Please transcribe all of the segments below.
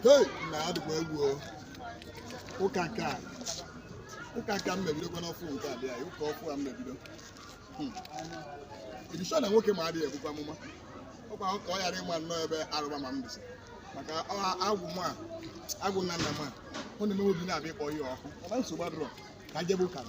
Hey, nna a dịkwa egwu o. ụka nke a ụka nke a mmebidokwa n'ọfụ nke a dị anyị ụka ọfụ a mmebido Hmm. edishọ na nwoke m a adịghị ebukwa amụma ọkwa ka ọ ghara ịma nnọọ ebe arụba ma m dịsị maka ọ- agwụ m a agwụ nna nna m a ọ na-eme obi na-abịa ịkpọ ihe ọkụ ọba nsogbu adịrọ ka m jebe ụka m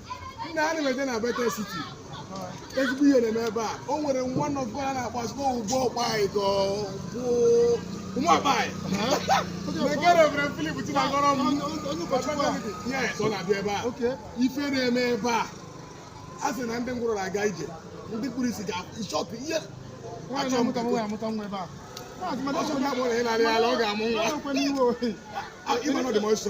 nna a na-emeje na Bethel City ezigbo ihe na-eme ebe a o nwere man of God a na-agbazikọ ugbo Ukpai ka ọ bụ Uma Ukpai mekere obere Philip Chinagorom yes ọ na-abịa ebe a ife na-eme ebe a a sị na ndị ngwụrọ na-aga ije ndị kpuru isi ga-achọpụ ihe achọ m ka ọ sọ na-abụ na ị na-arị ala ọ ga-amụ nwa ị ma na ọ dị m ọsọ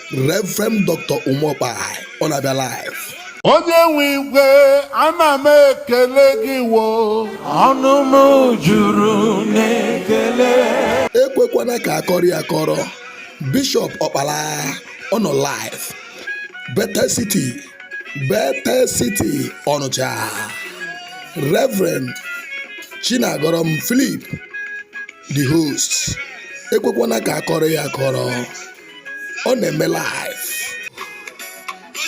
Reverend Dr. Uma Ukpai ọ na-abịa live onye nwe igwe ana m ekele gị wo ọnụ m juru n'ekele ekwekwana ka akọrọ ya akọrọ Bishop Ọkpala ọ nọ live Bethel City Bethel City Ọnịcha Reverend Chinagorom Philip the host ekwekwana ka akọrọ ya akọrọ ọ na-eme live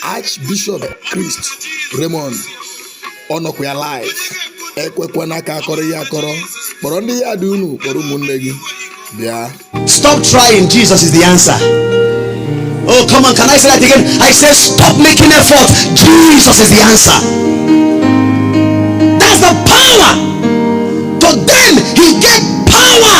Archbishop Christ Raymond ọ nọkwa ya live ekwekwana ka akọrọ ya akọrọ kpọrọ ndị yard unu kpọrọ ụmụnne gị bịa stop trying Jesus is the answer oh come on can I say that again I say stop making effort Jesus is the answer that's the power to them he gave power